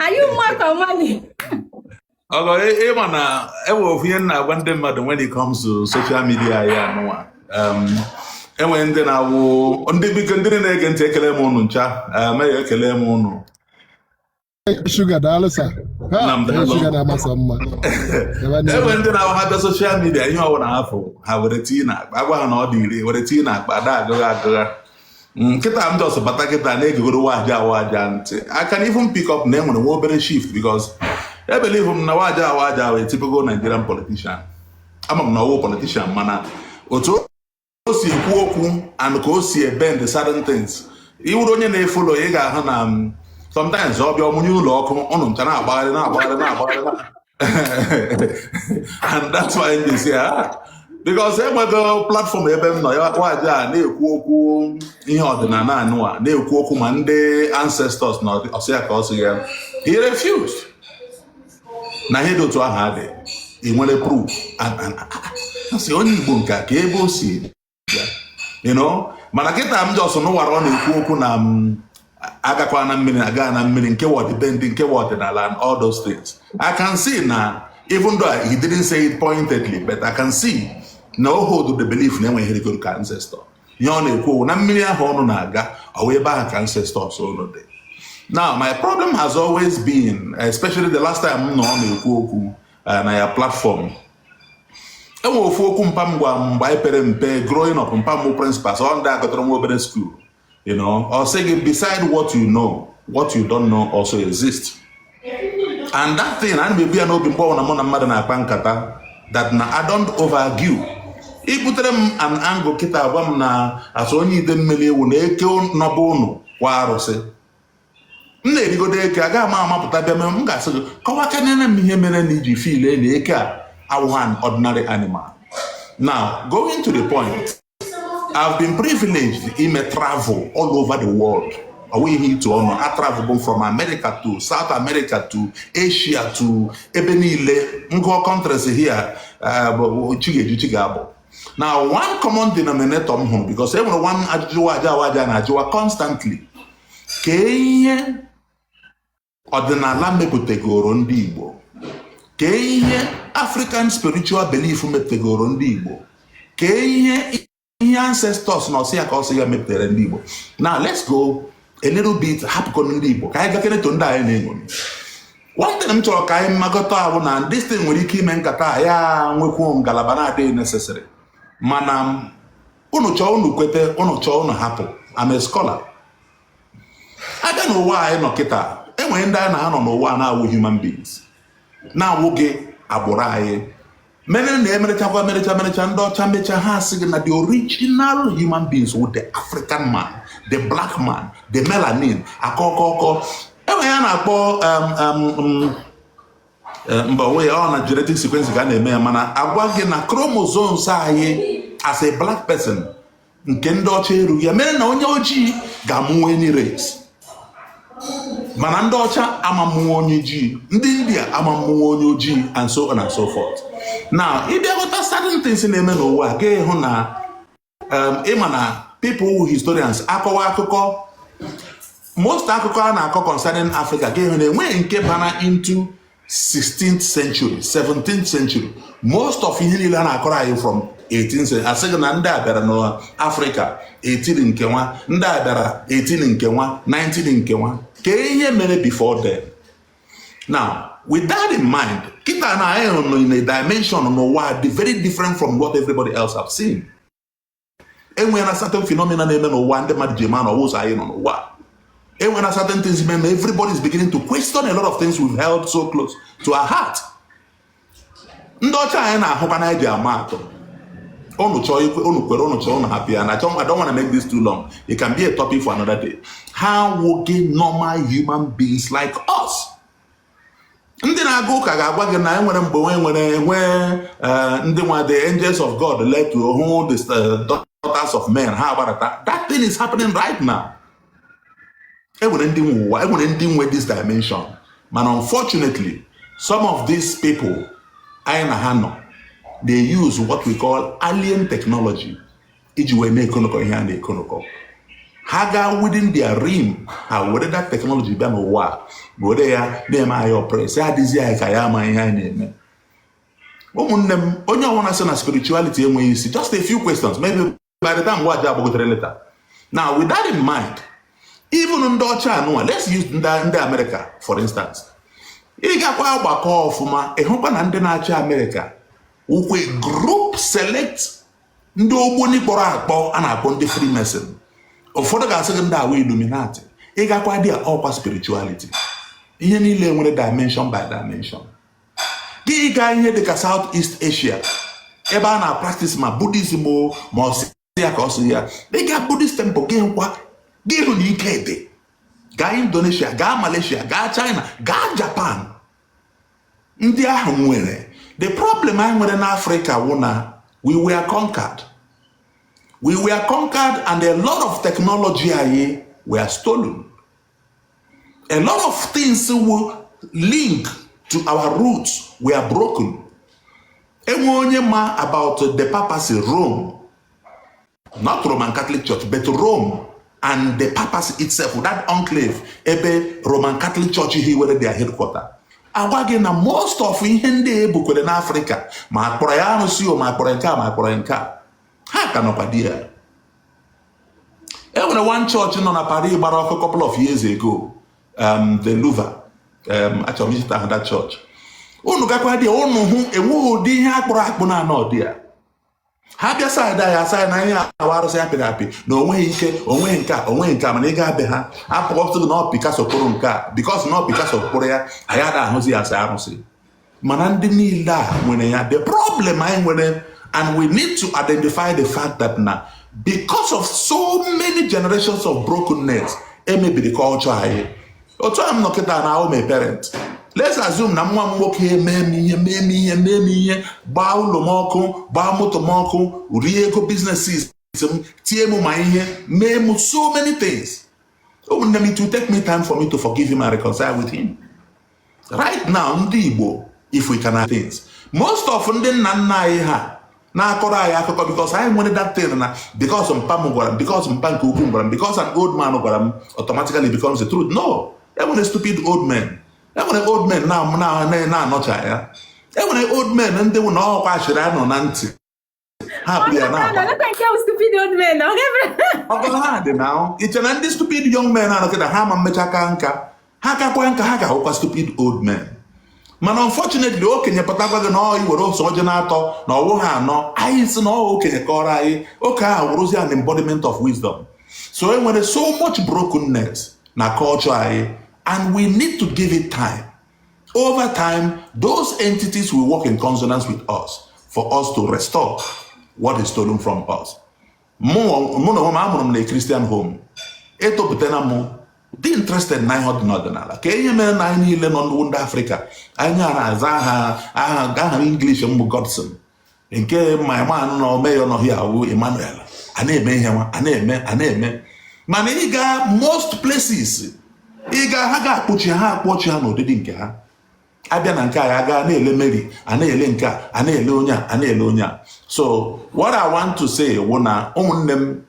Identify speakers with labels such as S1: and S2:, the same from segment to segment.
S1: anyị mmadụ amali
S2: ọgọ ịma na enwe ofu ihe m na-agwa ndị mmadụ when it comes to social media ya anụnwa um, enwere ndị na-awụ ndị biko ndị na-ege ntị ekele m ụnụ ncha mere um, ekele m
S3: ụnụ Sugar daalụ sa Sugar na-amasị mma
S2: enwe ndị na-awụ ha bịa social media ihe ọwụna ha fụ ha were tii na akpa agwa ha na ọ dị ire were tii na akpa ada agụgha agụgha na kịta m just bata kịta na-egegoro waja awaja ntị I can even pick up na enwere nwa obere shift because ebelieve m na waja awaja wụ a typical Nigerian politician ama m na ọ wụ politician mana otu o si ekwu okwu and ka o si ebend certain things ị wụrụ onye na-efollow ị ga-ahụ na sometimes ọ bịa ọ mụnye ụlọ ọkụ ụnụ ncha na-agbagharị na-agbagharị na-agbagharị and that's why m ji sị ah, because enwego platform ebe m nọ ya waja na-ekwu okwu ihe ọdịnala anụwa na-ekwu okwu ma ndị ancestors na ọsị ya ka ọ sị ya he refused na ihe dị otu ahụ adị ị nwere proof a sị onye Igbo nke ka ebe o si mana kịta m just nụwara ọ na-ekwu okwu na mm, agakwa na mmiri aga na mmiri nke ọdịbendị nke ọdịnala and all those things I can see na even though he didn't say it pointedly but I can see na o hold the belief na enwe ihe rigoro ka ancestor ihe ọ na-ekwu na mmiri ahụ ụnụ na-aga ọ wụ ebe ahụ ka ancestors ụnụ dị now my problem has always been especially the last time m nọ ọ na-ekwu okwu uh, na ya platform enwe ofu okwu mpa m gwa mgbe anyị pere mpe growing up mpa m principal so ndị gụtara nwa obere school you know ọ sị gị beside what you know what you don't know also exist and that thing ana m ebu ya n'obi mgbe ọbụla mụ na mmadụ na-akpa nkata that na I don't overargue i butere m an angle kịta agwa m na as onye Idemmili ị wụ na eke nọ be ụnụ wụ arụsị m na-erigodo eke agaghị m amapụta bịa mere m ga-asị gị kọwakanere m ihe mere na ị ji feel na eke a awụghị an ordinary animal now going to the point I've been privileged ime travel all over the world ọ wụghị ihe ịtụ ọnụ a travelụ m from America to South America to Asia to ebe niile m gụọ countries here uh, chi ga-eji chi ga-abọ now one common denominator m hụrụ because e nwere one ajụjụ aja aja na-ajụwa constantly kee ihe ọdịnala mepụtagoro ndị Igbo kee ihe African spiritual belief mepụtagoro ndị Igbo kee ihe ihe ancestors na ọsị ya ka ọsị ya mepụtara ndị Igbo now let's go a little bit hapụkọ ndị Igbo ka anyị gakene to ndị anyị na-eṅomi one thing m chọrọ ka anyị makọta wụ na this thing nwere ike ime nkata ya nwekwu ngalaba na-adịghị necessary mana unu chọọ unu kwete unu chọọ unu hapụ I'm a scholar aga n'ụwa anyị nọ kịta enwere ndị anyị na ha nọ n'ụwa na-awụ human beings na-awụghị agbụrụ anyị mere na emerechakwa emerecha merecha ndị ọcha mecha ha asị gị na the original human beings wụ the African man the black man the melanin akọkọkọ enwere ihe a na-akpọ um, um, um, eh, mba onwe ya ọ na genetic sequence ka a na-eme ya mana agwa gị na chromosomes anyị as a black person nke ndị ọcha erughị ya mere na onye ojii ga-amụnwe any race mana ndị ọcha amamụnwe onye ojii ndị India amamụnwe onye ojii and so on and so forth na ị bịa ghọta certain things na-eme n'ụwa ga-ahụ na um, ị ma na people wụ historians akọwa akụkọ most akụkọ a na-akọ concerning Africa ga-ahụ na enweghị nke bana into 16th century 17th century most of ihe niile a na-akọrọ anyị from 18 asị gị na ndị a bịara n'Africa 18 nke nwa ndị a bịara 18 nke nwa 19 nke nwa ka ihe mere before then now with that in mind kịta na anyị nọ in a dimension n'ụwa dị very different from what everybody else have seen enwere na certain phenomena na-eme n'ụwa ndị mmadụ ji ama na ọ wụghị sọ anyị nọ n'ụwa enwere na certain things mere na everybody is beginning to question a lot of things we've held so close to our heart ndị ọcha anyị na-ahụkwa na eji ama atụ unu chọọ ikwe unu kwere unu chọọ unu hapụ ya na I don't wanna make this too long it can be a topic for another day ha awụghị normal human beings like us ndị na-aga ụka ga-agwa gị na enwere mgbe nwe nwere enwe eh, ndị nwa the angels of God letuo hụ the eh, daughters of men ha agbarata that thing is happening right now enwere ndị nwe ụwa enwere ndị nwe this dimension mana unfortunately some of these people anyị na ha nọ they use what we call alien technology iji wee na-ekonụkọ ihe a na-ekonụkọ ha gaa within their realm ha were that technology bịa n'ụwa were ya na-eme anyị oppress ya adịzi anyị ka ya ama ihe anyị na-eme ụmụnne m onye ọbụla sị na spirituality enweghị isi just a few questions maybe by the time waji agbagotere later now with that in mind even ndị ọcha anụwa let's use ndị America for instance ị gakwa agbakọ ọfụma ị hụkwa na ndị na-achị America wụkwa group select ndị ogboni kpọrọ akpọ a na-akpọ ndị Freemason ụfọdụ ga-asị gị ndị a wụ Illuminati ị gakwa ndị a ọkwa spirituality ihe niile nwere dimension by dimension gị gaa ihe dị ka South East Asia ebe a na-practice ma Buddhism o ma ọ sị ya ka ọ sị ya ị gaa Buddhist temple gị hụkwa gị hụ na ike dị gaa Indonesia gaa Malaysia gaa China gaa Japan ndị ahụ nwere the problem anyị nwere n'Africa wụ na we were conquered we were conquered and a lot of technology anyị were stolen a lot of things wụ link to our roots were broken e nwee onye ma about the papacy Rome not Roman Catholic Church but Rome and the papacy itself that enclave ebe Roman Catholic Church hiwere their headquarter agwa gị na most of ihe ndị e bukwere n'afrịka ma akpọrọ ya arụsị o ma akpọrọ nke a ma akpọrọ nke a ha ka nọkwa there e nwere one church nọ na Paris gbara ọkụ couple of years ago um, the Louvre um, achọrọ m icheta that church unu gakwa there unu hụ enweghị ụdị ihe akpụrụ akpụ na anọ there ha bịa side a asị na ihe a wụ arụsị apịrị apị na onweghị ike onweghị nke a onweghị nke a mana ị gaa be ha apụkọpụtụrụ na ọ Picasso kpụrụ nke a because na ọ Picasso kpụrụ ya anyị ada ahụzi ya as arụsị mana ndị niile a nwere ya the problem anyị nwere and we need to identify the fact that na because of so many generations of brokenness e mebiri culture anyị otu a m nọ kịta na awụ m a parent let's assume na nwa m nwoke mee m ihe mee m ihe mee m ihe gbaa ụlọ m ọkụ gbaa moto m ọkụ rie ego businesses m tie m ma ihe mee m so many things ụmụnne m it will take me time for me to forgive him and reconcile with him right now ndị Igbo if we can things most of ndị nna nna anyị ha na-akọrọ anyị akụkọ because anyị nwere that thing na because mpa m gwara m because mpa nke ukwu m gwara m because an old man gwara m automatically becomes the truth no enwere stupid old men enwere old men na-anọcha ya enwere old men ndị wụ na ọkwa achịrị anọ na ntị hapụ ya na ọgọla ha dị na i che na ndị stupid young men a nọ kịta ha ama emecha kaa nka ha kakwa nka ha ga-awụkwa stupid old men mana unfortunately okenye pụtakwa gị na ọ iwere ose ọjị na-atọ na ọ wụ ha anọ anyị sị na ọ okenye kọrọ anyị oke ahụ wụrụzi an embodiment of wisdom so e nwere so much brokenness na culture anyị and we need to give it time Over time, those entities will work in consonance with us for us to restore what is stolen from us. mụ na onwe m a mụrụ m na Christian home etopụtana m dị interested na ihe ọdịnala kee ihe mere na anyị niile wụ ndị Afrịka anyị na-aza aha aha English m bụ Godson nke my man na ome ya nọ here wụ Emmanuel a na-eme ihe nwa a na-eme a na-eme mana ị ga most places ị ga ha ga-akpọchi ha akpọchi ha n'ụdịdị nke ha abịa na nke a ya gaa na-ele Mary a na-ele nke a a na-ele onye a a na-ele onye a so what I want to say wụ na ụmụnne m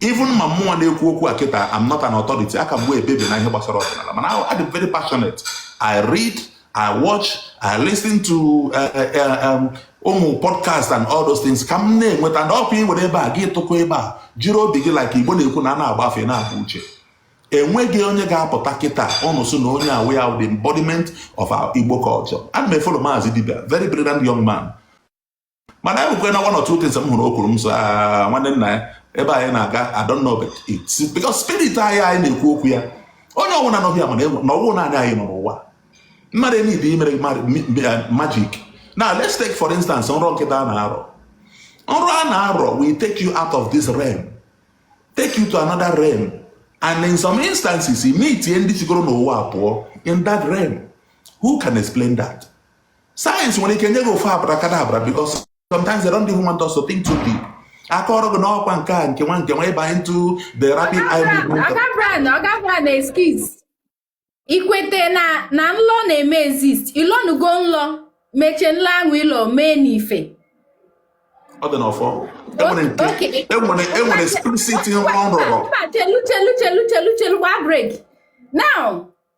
S2: even ma mụwa na-ekwu okwu a kịta I'm not an authority aka m wụ a baby na ihe gbasara ọdịnala mana adị m very passionate I read I watch I listen to eh, eh, eh, um, ụmụ podcast and all those things ka m na-enweta ndị ọkwa iwere ebe a gị tụkọ ebe a jiri obi gị like igbo na-ekwu na a na-agba afa na-abụ uche enweghị onye ga-apụta kịta ụnụ sị na onye a wụ ya the embodiment of our Igbo culture ana m efolo Maazị Dibịa very brilliant young man mana e nwekwe na one or two things m hụrụ o kwuru m sị ah, nwanne nna ya ebe anyị na-aga I don't know but it's because spirit anyị anyị na-ekwu okwu ya onye ọbụla nọ here mara na ọwụ naanị anyị nọ n'ụwa mmadụ enyi bụ imere magic now let's take for instance nrọ nkịta a na-arọ nrọ a na-arọ will take you out of this realm take you to another realm and in some instances i meetie ndị sigoro n'ụwa pụọ in that realm who can explain that sayensị nwere ike nye gị ofu abracadabra because sometimes they don't even want us to think too deep akọrọ gị na ọkwa nke a nke nwa nke nwa ịba into the rapid eye movement Oga Brian, Oga Brian,
S1: excuse. Ikwete na na nlọ na-eme exist. Ịlọnugo
S2: nlọ,
S1: mechaa nlọ ahụ ịlọ mee n'ife.
S2: ọ dị
S1: n'ọfọ enwere nke Oke.
S2: enwere enwere spirit nrọ m rọrọ Mba, chelu chelu chelu
S1: chelu chelu gbaa break. Now,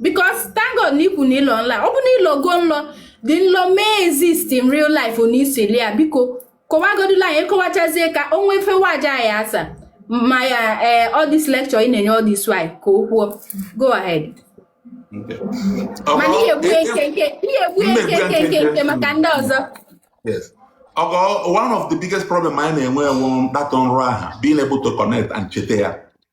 S1: because thank God na ikwu na ịlọ nlọ ọ bụ na ịlọgo nlọ the nlọ mee exist in real life na i sịlị iya biko kọwagodula anyị kọwachazie ka o nwee fewe aja anyị asa ma ya ee eh, all this lecture ị na-enye all this while ka o kwuo go
S2: ahead mana ihe egbu
S1: eke nke ihe egbu eke nke nke nke maka ndị
S2: ọzọ ọgọ one of the biggest problem anyị na-enwe enwe dat nrọ ahụ being able to connect and cheta ya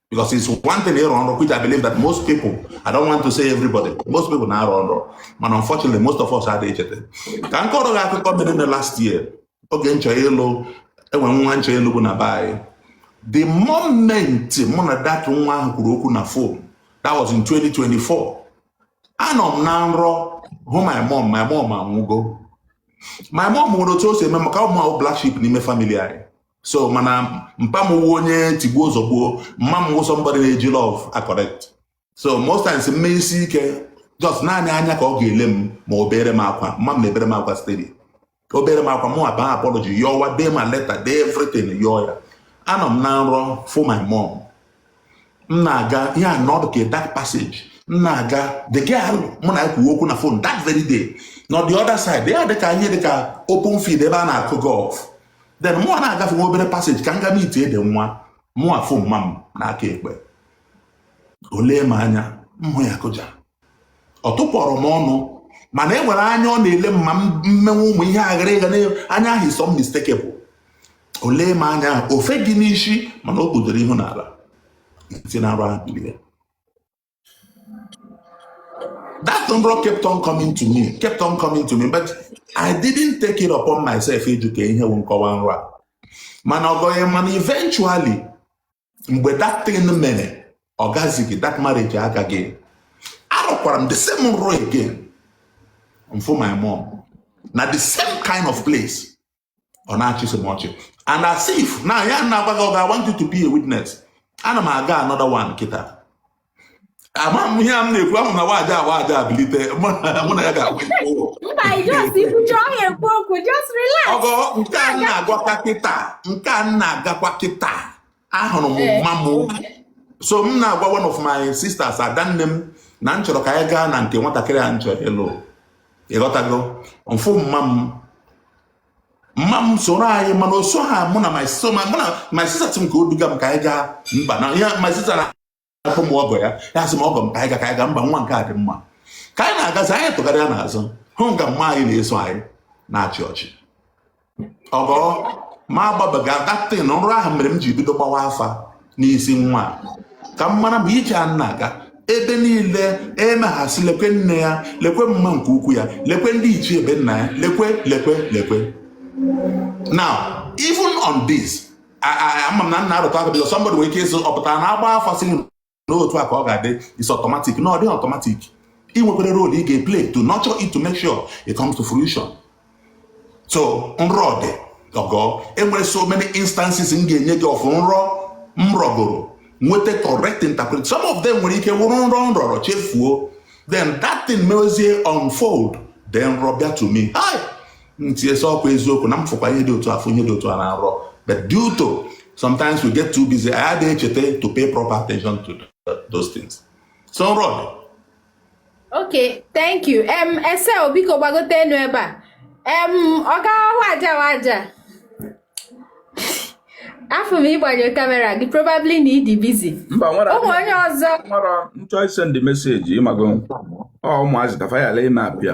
S2: because it's one thing ịrọ nrọ which I believe that most people I don't want to say everybody most people na-arọ nrọ mana unfortunately most of us adịghị echeta ka m kọrọ gị akụkọ mere na last year oge m chọ ịlụ e nwe nwa m chọ ịlụ bụ na be anyị the moment mụ na dat nwa ahụ kwuru okwu na fon that was in 2024 anọ m na nrọ hụ my mom my mom anwụgo my mom nwere otu o si eme maka ọ mụ wụ black sheep n'ime family anyị so mana mpa m wụ onye tigbuo zọgbuo mma m wụ somebody na-eji love akọrekt so most times m mee isi ike just naanị anya ka ọ ga-ele m ma o beere m akwa mma m na-ebere m akwa steady o beere m akwa mụ aba apology yọwa dee ma leta dee everything yọọ ya anọ m na nrọ fụ my mom m na-aga ihe a na ọ dụ ka dark passage m na-aga the girl mụ na ya kwuwe okwu na phone that very day nọ the other side ya dịka ihe dịka open field ebe a na-akụ golf then mụ na-agafe nwa obere passage ka m ga meet ede nwa mụ afụ mma m n'aka ekpe o lee m anya m hụ ya kụja ọ tụpụrọ m ọnụ mana e nwere anya ọ na-ele m ma m mewe ụmụ ihe aghara ịga anya ahụ is unmistakable o lee m anya ofe gị n'isi mana o kpudoro ihu n'ala si na nrọ ahụ bilie that number kept on coming to me kept on coming to me but I didn't take it upon myself ịjụ ka ihe bụ nkọwa nrọ a mana ọgọghị mana eventually mgbe that thing mere ọ gazighị that marriage agaghị arọkwara m the same nrọ again m fụ my mom na the same kind of place ọ na-achịsị m ọchị and as if na ya na-agwa gị I want you to be a witness ana m aga another one kịta ama m ihe a m na-ekwu ahụ na nwaada a nwaada a bilite mụ na ya ga-agwa ọgọ nke a na-agwakwa kịta nke a na-agakwa kịta ahụrụ m eh. mma m so m na-agwa one of my sisters adanne m na m chọrọ ka anyị gaa na nke nwatakịrị a m chọrọ ịlụ ị ghọtago m fụ mma m mma m soro anyị mana o so ha mụ na my sister m ka o duga m ka anyị gaa mba na ihe my sister na afụ m ọgọ ya ya sị m ọgọ m ka anyị ga ka anyị ga mba nwa nke a dị mma ka anyị na-agazi anyị tụgharịa n'azụ hụ nga mma anyị na-eso anyị na-achị ọchị ọgọ ma agbabeghị that thing nrọ ahụ mere m ji bido gbawa afa n'isi nwa ka m mara ma ije a na-aga ebe niile emeghasị lekwe nne ya lekwe mma nke ukwu ya lekwe ndị ichie be nna ya lekwe lekwe lekwe now even on this ama m na m na-arụtụ aka because somebody nwere ike ịsị ọ pụta na agba afa sị n'otu a ka ọ ga-adị is automatic no ọ dịghị automatic ị nwekwara role ị ga-eplay to nurture it to make sure it comes to fruition so nrọ dị ọgọ enwere so many instances m ga-enye gị of nrọ m rọgoro nweta correct interpret some of them nwere ike wụrụ nrọ m rọrọ chefuo then that thing mewezie unfold then nrọ bịa to me hi m tinye sị ọ kwa eziokwu na m fụkwa ihe dị otu a fụ ihe dị otu a na nrọ but due to sometimes we get too busy anyị adịghị echeta to pay proper attention to those things so nrọ ok
S1: thank you em ese biko gbagote enu ebe a em ọga Waja afụ m ị gbanyụ camera gị probably na ị dị busy mba nwere ụmụ onye
S4: ọzọ
S1: nwere m chọ isend
S4: message ị mago ọ ụmụazị ka fayala ime apịa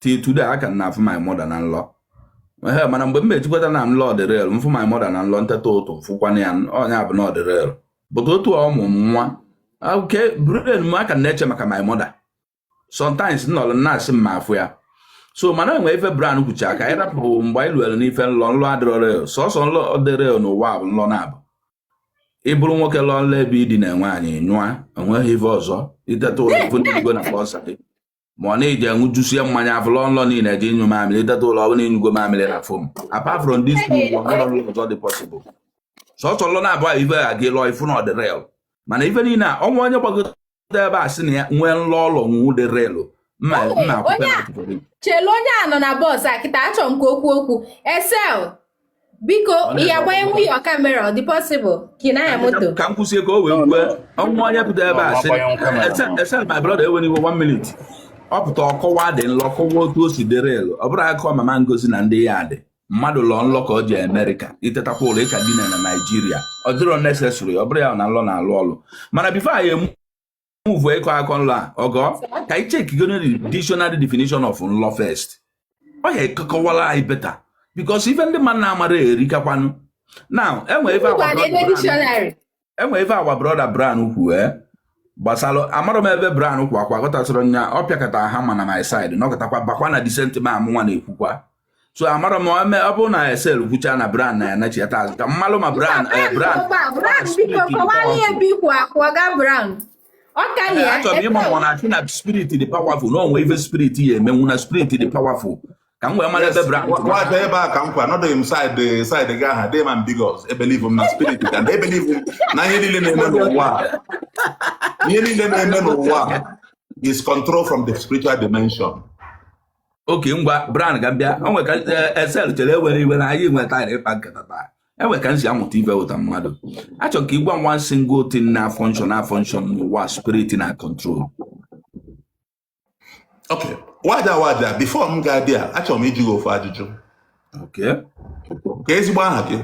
S4: till today a ka na-afụ my mother na nlọ ee mana mgbe m eji kweta na nlọ dị real mfụ my mother na nlọ nteta ụtụtụ mfụkwana ya ọ nya bụ na ọ dị real but otu ọ mụnwa okay brain m a ka na-eche maka my mother sometimes nọrọ na-asị m ma afụ ya so mana enwe ife brown kwuchaa ka anyị rapụ mgbe anyị luere n'ife nlọ nlọ adịrọ real sọsọ nlọ dị real n'ụwa bụ nlọ na-abụ ị bụrụ nwoke lọọ nlọ ebe ị dina nwaanyị nyụa enweghị ife ọzọ iteta ụla ife ndị igwe na boxer gị ma ọ na-eji aṅụjusie mmanya afọ lọọ nlọ na ị na-eje ịnyụ mamịrị iteta ụla ọ bụlụ ịnyụgo mamịrị na foam apart from this two o nwerọ nlọ ọzọ dị possible sọsọ nlọ na-abụ a ife a gị lọọ ịfụ na ọ dị real mana ife niile a o nwee onye gbagote ebe a sị na ya nwee nlọ ọ lọ nwụ dị real mma mma akwụkwọ na akwụkwọ gị
S1: chelu onye a nọ na bọs a kịta achọrọ m ka o kwuo okwu esel biko ị ya-agbanyenwu camera ọ dị possible ka ị na-anya moto ka m kwusie ka o wee
S4: kwue o nwee onye pụta ebe a sị esel my brother ewena iwe one minute ọ pụta ọ kọwa ụdị nlọ kọwa otu o si dị real ọ bụrụ akụkọ mama ngozi na ndị ya dị mmadụ lọ nlọ ka o jee amerịka itetakwa ụla ị ka dina na naijiria ọ dịrọ necessary ọ bụrụ ya na nlọ na-alụ ọlụ mana before anyị move ịkọ akọ nlọ a ọgọ ka anyị chekigodu dictionary definition of nlọ first ọ ya-aka akọwala anyị better because ife ndị mmadụ na-amarọ erikakwanụ now enwe ife anwa enwe ife anwa brother brown kwu ee eh? gbasara amarọ m ebe brown kwa kwa gọtasịrị nya ọ pịakọta ha ma na my side nọkọtakwa bakwa na decent ma amụnwa na-ekwukwa so amarọ m eme ọ bụrụ na esel kwucha na brown na ya nachiyata azụ ka m malụ ma brown eh, brown achọrọ m ịma ma ọ na-asị na spirit dị powerful na o nwe ife spirit ya-emenwu na spirit dị powerful ka m wee mara ebe brown nwata ebe a ka m
S2: kwa anọdụghị m side side gị aha dee ma m because e believe m na spirit and e believe m na ihe niile na-eme n'ụwa ihe niile na-eme n'ụwa is control from the spiritual dimension
S4: okay ngwa brown ga bịa o nwe ka esel eh, chere ewena iwe na anyị nwetara ịkpa nkata taa enwe ka nsi amụta ife wọta mmadụ achọ m ka ị gwa m one single thing na function na function n'ụwa spirit na
S2: control ok wada wada before m ga-abịa achọrọ m ịjụ gị ofu ajụjụ kee ezigbo aha gị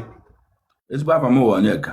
S2: ezigbo afa
S4: m wụ onyeka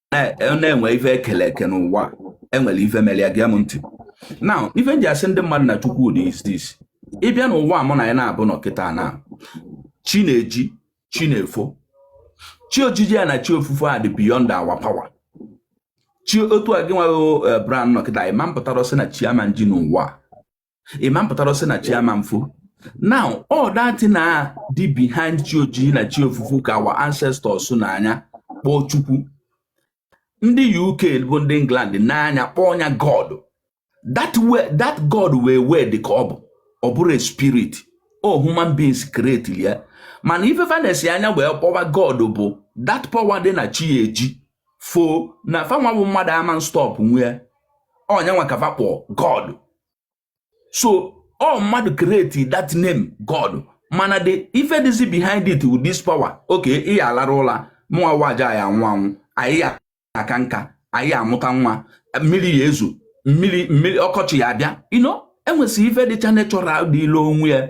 S4: na enwe ife e kele eke n'ụwa enwerọ ife mere ya gee m ntị now ife nji asị ndị mmadụ na chukwu dị is this ịbịa n'ụwa mụ na ya na-abụ nọ kịta na chi na-eji chi na-efo chi ojiji ya na chi ofufo a dị beyond our power chi otu a gị nwa eh, brown nọ kịta ị ma mpụta sị na chi ama nji n'ụwa ịma mpụtara sị na chi ama efo now ọ that thing a dị behind chi ojiji na chi ofufo ka our ancestors nee anya kpọọ chukwu ndị uk bụ ndị england nee anya kpọọ ya god that that god wee wee dị ka ọ bụ ọ bụrụ a spirit ọ human beings create ya mana ife fa nesi anya wee kpọwa god bụ that power dị na chi eji fo na fa nwa bụ mmadụ ama stop nwu ọ nya nwa ka fa kpọọ god so ọ mmadụ create that name god mana the ife dịzi behind it with this power okay ị ya alarụ ụla mụnwa waja ya anwụ anwụ anyị ya aka nka anyị ya amụta nwa mmiri ya ezo mmiri mmiri ọkọchị ya abịa you know e nwesị ife dịcha natural dịịlị onwe ya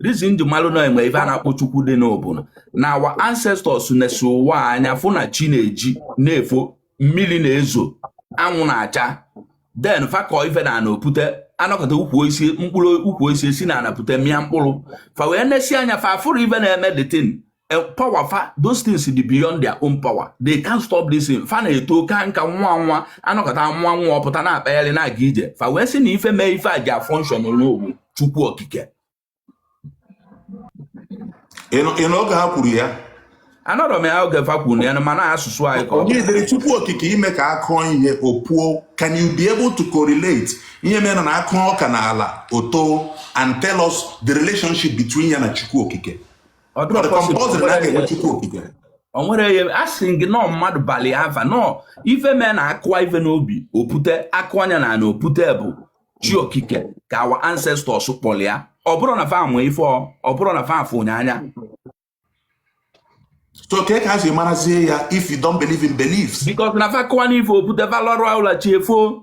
S4: reason e ji malụ na e nwe ife a na-akpọ chukwu dị n'ọ bụ na our ancestors nesi ụwa anya fụ na chi na-eji na-efo mmiri na-ezo anwụ na-acha then fa kọọ ife n'ana o pute a nọkata ukwu osisi mkpụrụ ukwu osisi si n'ana pụta mịa mkpụrụ fa wee nesi anya fa afụrọ ife na-eme the thing eh, power fa those things dị beyond their own power they can't stop this thing fa na-eto kaa nka nwa nwa a nọkata nwa nwa ọpụta na-akpagharị na-aga ije fa wee sị na ife mee ife a ji a-function n'ọ wụ chukwu okike
S2: ị nọ oge ha kwuru ya anọrọ m
S4: ya oge fa kwuru nya mana asụsụ anyị ka onye dere chukwu
S2: okike ime ka a kụọ ihe o puo can you be able to correlate ihe mere na a kụọ ọka na ala o too and tell us the relationship between ya na chukwu okike ọ dịrọ compulsory na a ga-enwe chukwu okike o nwere ihe a sị gị n'ọ mmadụ balụ ya ava n'ọ ife mee na a kụwa ife n'ubi o pute a kụọ nya na ana o pute bụ chi okike ka our ancestors kpọrọ ya ọ bụrụ na fa amụ ife ọ ọ bụrọ na fa afụ nya anya so kee ka e si marazie ya if you don't believe in beliefs because na fa kụwa n'ife o pute fa larụ ụla chi efoo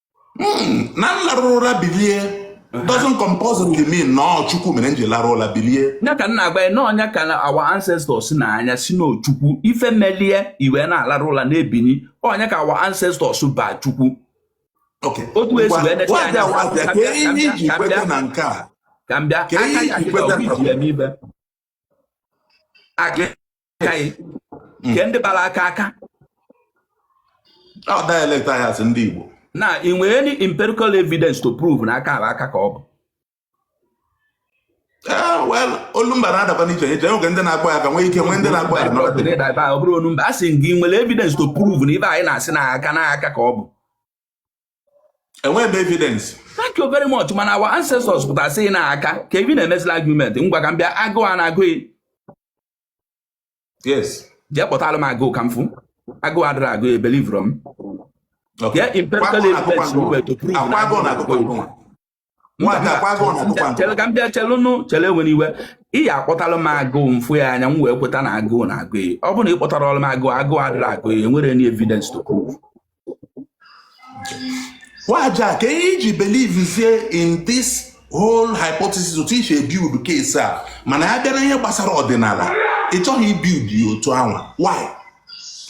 S2: Hmm, na m larụrụ ụra bilie doesn't compulsory mean na ọ chukwu mere m ji larụ ụra bilie ya ka m na-agwa gị na ọ nya ka our ancestors nee anya sị na ọ chukwu ife melụ i wee na-alarụ ụra na-ebini ọ nya ka our ancestors ba chukwu Okay. otu esi Ngwa- wee necha wazia, anya wazia, ka ihe iji kweta na nke a ka m bịa Ka aka ihe ya iji kịta kweta obi na- ji eme ibe aka hmm. kee ndị bara aka aka ọ dialect anyị as ndị Igbo na ị nwere any empirical evidence to prove na aka aka ka ọ bụ Ah, olumba na-adakwa n'iche n'iche e nwere ndị na-akpọ ya aka nwee ike nwee ndị na-akpọ ya ọ bụrọ olumba a sị m ị nwere evidence to prove na ibe anyị na-asị na aka na aka ka ọ bụ enweghị m evidence thank you very much mana our ancestors pụtara sị na aka kee ife ị na-emezịlị argument ngwa ka m bịa agụụ a na-agụ gị yes jee kpọtara m agụụ ka m fụ agụụ adịrọ agụ e-believe-rọ m Okay. Yeah, empirical Kwakọ na evidence akụkọ we were to prove na akụkọ. Akwa agụụ na akụkọ agụụ. chere ka m bịa chelụnụ chere ewere iwe ị ya akpọtalụ m agụụ mfụ ya anya m wee kweta na agụụ na agụ ya ọ bụrụ na ị kpọtarọrụ m agụụ agụụ adịrọ agụ ya enwere any evidence to prove waja ka ihe iji believe zie in this whole hypothesis otu isi ebuild case a mana ya bịara ihe gbasara ọdịnala ị chọghị ibuild ya otu anwa why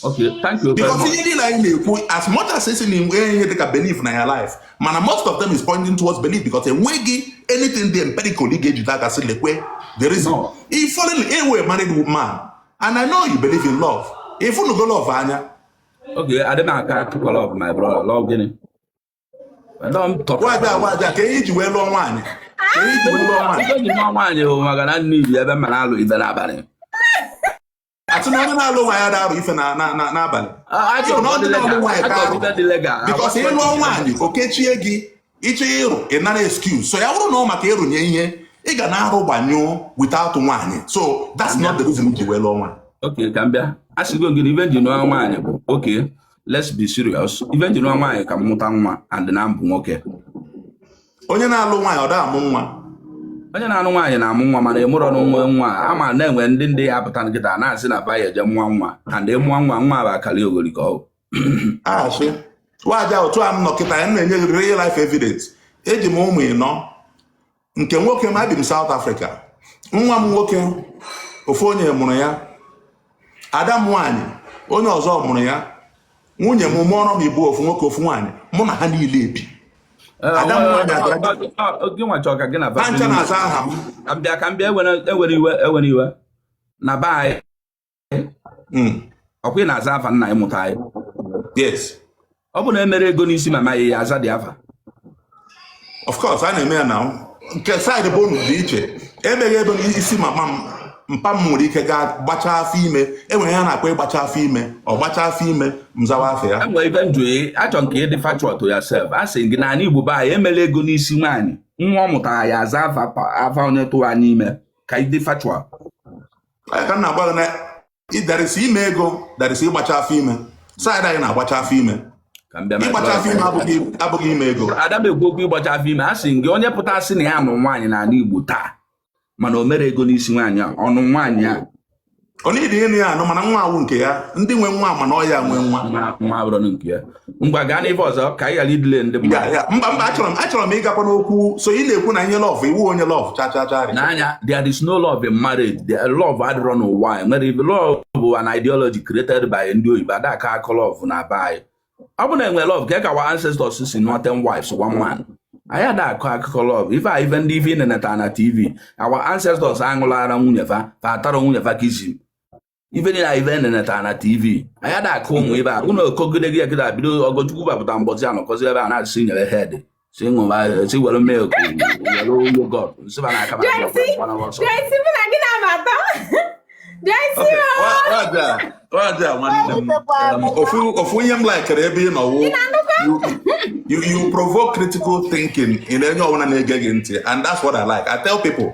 S2: Okay, thank you. Because ihe niile anyị na-ekwu as much as esi na enwe ihe dịka belief na ya life mana most of them is pointing towards belief because enweghị anything dị empirical ị ga-ejide aka sị lekwe the reason ị fall in ị wụ married man and I know you believe in love ịfụnugo love anya okay adị m akọ akụkọ love my brother love gịnị waja waja ka ihe ji wee lụọ nwaanyị ka ihe ji wee lụọ nwaanyị nwaanyị bụ maka na nne ibi ebe m na-alụ ife n'abalị asị na onye na-alụ nwaanyị ada arụ ife na- na- na- n'abalị A- ajọ Ịhụ na ọ dị n'ọlụ nwaanyị ka arụ. ọdịda dị legal because ịlụọ nwaanyị o kechie gị ịchọ ịrụ ị nara excuse so ya bụrụ na ọ maka ịrụnye ihe ị ga na-arụ gbanyụọ without nwaanyị so that's not the reason ji wee lụọ nwaanyị okay ka m bịa a sịgo gị na ife nji nụọ nwaanyị bụ okay let's be serious ife nji nụọ nwaanyị ka m mụta nwa and na m bụ nwoke onye na-alụ nwaanyị ọ da amụ nwa onye na-alụ nwaanyị na-amụ nwa mana ịmụrọ na nwe nwa a ma na-enwe ndị ndị ya apụta kịta na-asị na ba ya eje mụọ nwa and ịmụọ nwa nwa bụ akaliogori ka ọ asị waja otu a m nọ kịta ya na-enye gị real life evidence eji m ụmụ ịnọ nke nwoke m ebi m South Africa nwa m nwoke ofu onye mụrụ ya ada m nwaanyị onye ọzọ mụrụ ya nwunye m mụọrọ m ịbụọ ofu nwoke ofu nwaanyị mụ na ha niile ebi ha ncha na-aza aha m ka m bịa ka m bịa ewere iwe ewere iwe na be anyị hmm. ọkwa ị na-aza afa nna gị mụta gị ọ bụ na emere ego n'isi mama gị ya aza dị afa of course a na-eme ya na nke side be unu dị iche emeghị ego n'isi mama m mpa m nwere ike gaa gbachaa afọ ime enwere ihe a na-akpọ ịgbacha afọ ime ọ gbacha afọ ime m zawa afa ya enwere ife m jụ achọ m ka ịdị factual to yourself a sị gị na anị Igbo be anyị emere ego n'isi nwaanyị nwa ọ mụtara ya aza afa onye tụwa ya ime ka ịdị factual ka m na-agwa gị na ịdarịsị ime ego darịsị ịgbacha afọ ime side anyị na-agbacha afọ ime ịgbacha afọ ime abụghị ime ego ada m ekwu okwu ịgbacha afọ ime asị m gị onye pụta sị na ya nụ nwaanyị n'ala Igbo taa mana o merọ ego n'isi nwaanyị a ọ nụ nwaanyị a onye dị ịnụ ya anụ mana nwa awụ nke ya ndị nwe nwa mana ọ ya nwe nwa nwa abụrụ nke ya
S4: ngwa gaa n'ife ọzọ ka anyị ghara idelay ndị mmadụ mba mba achọrọ m achọrọ
S2: m ịgakwa n'okwu so ị na-ekwu na ihe love ị wụ onye love chachachari n'anya there is no
S4: love in marriage the love adịrọ n'ụwa nwere ibe love bụ an ideology created by ndị oyibo adaka akọ love na be anyị ọ bụ na enwe love ka ka our ancestors si nụọ ten wives one man anyị ada akọ akụkọ love ife a ife ndị ife ị na-eneta na tv our ancestors aṅụlara nwunye fa fa atara nwunye fa kissing ife niile anyị ife na-eneta na tv anyị ada akọ ụmụ ife a unu okogide gị ekide bido ọgọchukwu bapụta mbọzi a nọkọzi ebe a na-asị nyere head si ṅụba si were milk were yogurt nsịba na akaba
S2: ofu ihe m likere ebe ị nọ wụ you provoke critical thinking in onye ọbụla na-ege gị ntị and that's what I like I tell people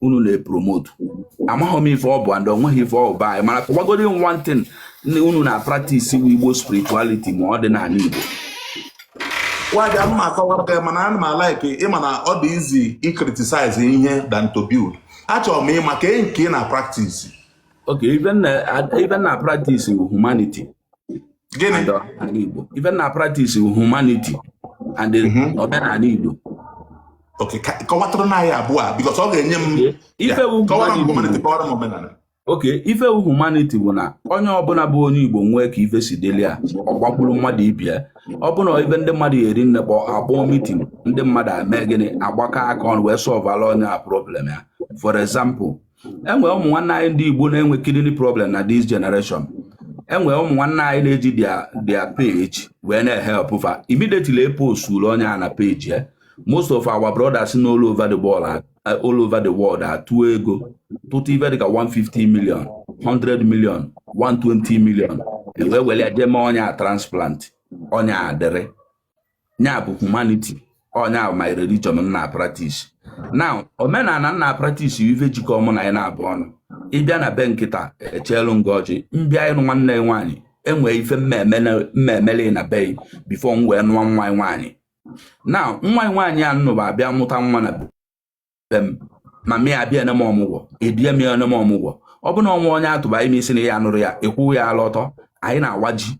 S4: unu na-epromote amaghị m ife ọ bụ and onweghị ife ọ bụ anyị mana kọwagodi one thing unu na practice ọ wụ igbo spirituality ma ọdịnanị igbo
S2: waja mma akọwara mana ana m alike ịma na ọ dị easy icriticize ihe than to build achọrọ m ịma ka nke ị na practice
S4: okay ife m na practice humanity
S2: gịnị ala Igbo
S4: ife m na practice humanity and mhm. omenala Igbo okay
S2: kọwatụrụ na ya abụọ because ọ ga-enye
S4: m
S2: okay ife
S4: humanity bụ na onye ọbụla bụ onye Igbo nwee ka ife si dịlị ya ọ gbakwuru mmadụ ibe ya ọ bụ na ife ndị mmadụ eri nne kpọ akpọọ meeting ndị mmadụ eme gịnị agbakọ aka ọnụ wee solvela onye a problem ya for example enwe ụmụ nwanne anyị ndị Igbo na-enwe kidney problem na this generation enwe ụmụ nwanne anyị na-eji their page wee na-ehelp fa immediately eposturu onye a na page ya most of our brothers na all over the world all over the world atụọ ego tụtụ ife dịka 150 million 100 million 120 million wee were jee mee onye a transplant onye a dịrị nya bụ humanity ọ nya bụ my religion m na practice now omenala m na practice ife jikọ mụ na gị na-abụ ọnụ ị bịa na be m kịta echeelu m gị ọjị m bịa ịnụ nwanne gị nwaanyị enwee ife m ga-emeli na be gị before m wee nụọ nwa gị nwaanyị now nwa gị nwaanyị a m nụba abịa mụta nwa na mama ya abịa eneme ọmụgwọ edie m ya eneme ọmụgwọ ọ bụ na ọnwa onye atụba ime isi na ya nụrụ ya ekwu ya ala ọtọ anyị na-awa ji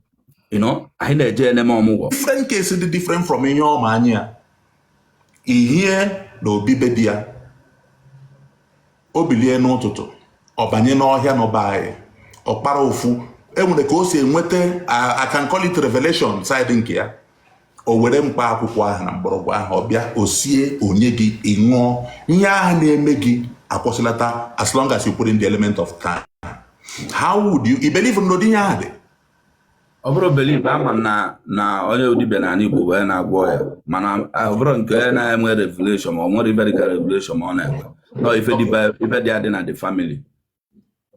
S4: anyị na-eje eneme ọmụgwọ different case dị different
S2: from ihe ọma anyị ya ihie na obi be di ya o bilie n'ụtụtụ ọ banye n'ọhịa n'ụba anyị ọ kpara ofu enwere ka o si enweta I can call it revelation side nke ya o were mkpa akwụkwọ ahụ na mgbọrọgwụ ahụ ọ bịa o sie o nye gị ị ṅụọ ihe ahụ na-eme gị akwụsịlata as long as you put in the element of time how would you i believe na ụdị ihe ahụ dị ọ
S4: bụrọ belief ama m na na onye dibịa na ala Igbo wee na-agwọ ọya mana ọ bụrọ nke onye na-enwe revelation ma ọ nwere ife dịka revelation ma ọ na-enwe no ife dị adị na the family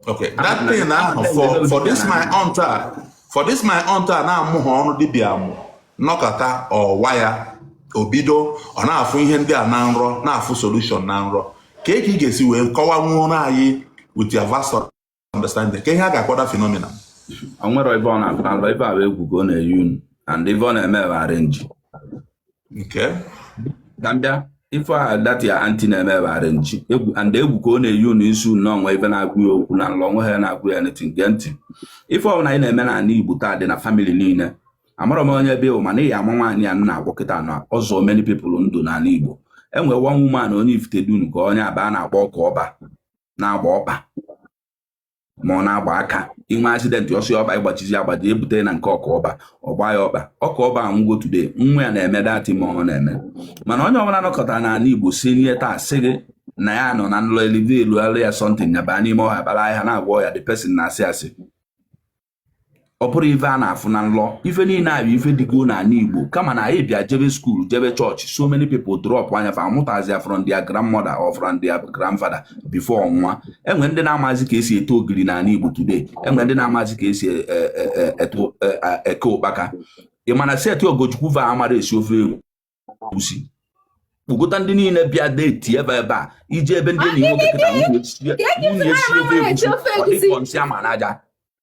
S2: okay that thing ahụ for for this my aunt for this my aunt a na-amụha ọrụ dibịa amụ nọkata ọ wa ya o bido ọ na-afụ ihe ndị a na nrọ na-afụ solution na nrọ ka e ka ị ga-esi wee kọwanwuoro anyị with your vast understanding ka ihe a ga-akpọ that phenomenon nwere
S4: ebe ọ na-akpa nrọ ebe a bụ egwu ka ọ na-eyi unu and ife ọ na-eme bụ arenji
S2: nke
S4: ka m bịa ife a that your aunty na-eme bụ arenji and egwu ka ọ na-eyi unu isi unu na o nwe ife na-agwa ya okwu na nlọ o nwe ha na-agwa ya na ntị nke ntị ife ọbụla anyị na-eme na ala Igbo taa dị na family niile amarọ m onye ebe ị wụ mana ị ma nwaanyị a na-agwọ kịta na ọzọ many people nọ n'ala Igbo enwe one woman onye Ifitedunu ka onye Abba a na-akpọ ọka ọba na-agba ọkpa ma ọ na-agba aka i nwe accident ọ sọ ọkpa ị gbajisie agbaji e bute na nke ọka ọba ọ gbaa ya ọkpa ọka ọba anwụgo today nwa ya na-eme dati ma ọ na-eme mana onye ọbụla nọkata n'ala igbo si nye taa sị gị na ya nọ na nlọ e revealụalụ ya something ya baa n'ime ọhịa kpara ahịhịa na-agwọ ọya the person na-asị asị ọ bụrọ ife a na-afụ na nlọ ife niile a bụ ife dịgo n'ala Igbo kama na anyị bịa jebe school jebe chọọchị so many people dropụa nya fa amụtazia from their grandmother or from their grandfather before ọ nwụa enwe ndị na-amazi ka esi ete ogiri n'ala Igbo today enwe ndị na-amazi ka esi e, e, e, eke ụkpaka ị ma na set Ogochukwu va amarọ esi ofe egwu gwusi kpokọta ndị niile bịa deti ebe ebe a i jee be ndị enyi nwoke kịta nwunye sie ofe egusi ọ dị ka nsị a ma n'aja